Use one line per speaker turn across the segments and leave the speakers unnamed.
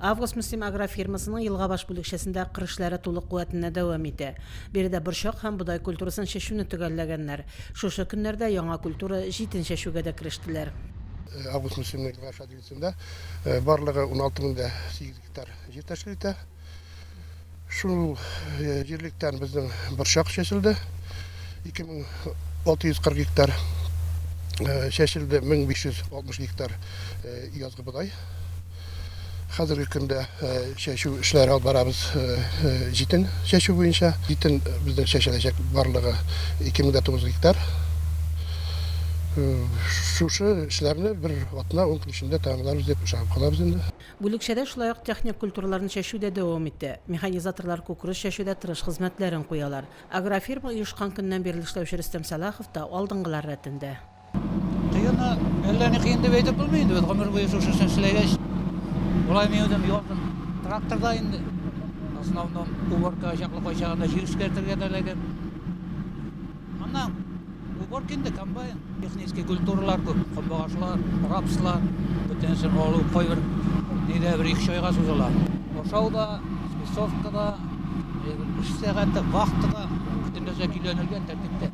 Август Мөслим агрофирмасының Елгабаш бүлекчәсендә кыр эшләре тулы куәтендә дәвам итә. Биредә борчак һәм бодай культурасын чәчүне төгәлләгәннәр. Шушы көннәрдә яңа культура, җитен чәчүгә дә керештеләр. Август Мөслим
Нәкъгашадиесендә барлыгы уналты мең дә сигез гектар җир тәшкил итә. Шул җирлектән безнең борчак чәчелде. 2640 гектар чәчелде, 1560 гектар язгы бодай. Хәзерге көндә чәчү эшләре алып барабыз җитен чәчү буенча. Җитен безнең чәчеләчәк барлыгы 2900 гектар. Шушы эшләрне бер атна-ун көн эчендә тәмамларбыз дип ышанып калабыз инде. Бүлекчәдә шулай ук
техник культураларны чәчү дә дәвам итә. Механизаторлар күкрүз чәчүдә тырыш хезмәтләрен куялар. Агрофирма оешкан көннән бирле эшләүче Рөстәм Сәлахов та алдынгылар рәтендә.
Кыенмы? Әллә ни кыен дип әйтеп булмый инде, без гомер буе шушы эшне эшләгәч, болай минем ялкын. Тракторда инде в основном уборка чаклы, кайчагында җир эшкәртергә дә эләгәм. Аннан уборка инде комбайн, технический культуралар күп, кабагашлар, рапслар, бөтенесен алу, кайбер нидә бер ике чайга сузыла. Ашау да, спецовка да, эш сәгате, вахта да, бөтен нәрсә көйләнелгән тәртиптә.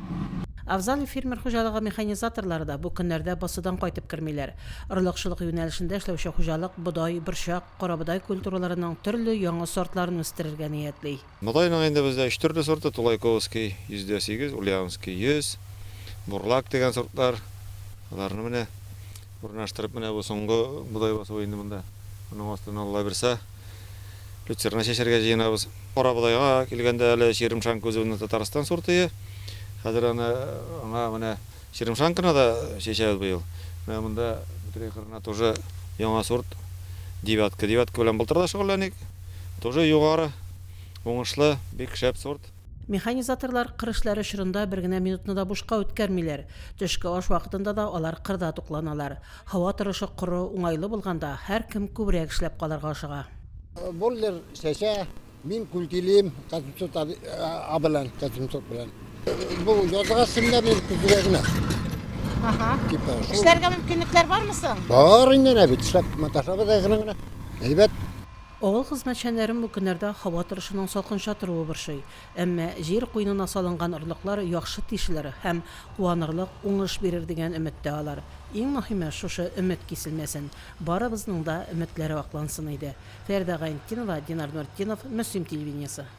Авзалый
фермер хуҗалыгы механизаторлары да бу көннәрдә басудан кайтып кермиләр. Орлыкчылык юнәлешендә эшләүче хуҗалык бодай, борчак, карабодай культураларының төрле яңа сортларын үстерергә ниятли. Бодайның инде бездә
өч төрле сорты, Тулайковский, 108, Ульяновский, 100, Бурлак дигән сортлар. Аларны менә урнаштырып, менә бу соңгы бодай басуы инде монда. Моның астына Алла бирса, люцерна чәчәргә җыенабыз. Карабодайга килгәндә әле Черемшанка үзебезнең Татарстан сортые. Хәзер аны аңа менә Черемшанканы да чәчәбез быел. Менә монда бөтенләй кырына тоже яңа сорт девятка. Девятка белән былтыр да шөгыльләник. Тоже югары, уңышлы, бик шәп сорт. Механизаторлар
кыр эшләре чорында бер генә минутны да бушка үткәрмиләр. Төшке аш вакытында да алар кырда тукланалар. Һава торышы коры, уңайлы булганда, һәркем күбрәк эшләп калырга ашыга. Бойлер
чәчә, Мин күлтилим Казымсот а белән, Казымсот белән. Бу язга симлә мин күзгә генә. Ага. Типа.
Эшләргә мөмкинлекләр бармы соң? Бар инде нә бит,
эшләп маташабыз әгрен генә. Әйбәт. Авыл
хезмәтчәннәрен бу көннәрдә һава торышының салкынча торуы борчый. Әмма җир куенына салынган орлыклар яхшы тишелер һәм куанырлык уңыш бирер дигән өметтә алар. Иң мөһиме, шушы өмет киселмәсен. Барыбызның да өметләре аклансын иде. Фәридә Гайнтдинова, Динар Нуретдинов, Мөслим телевидениесе.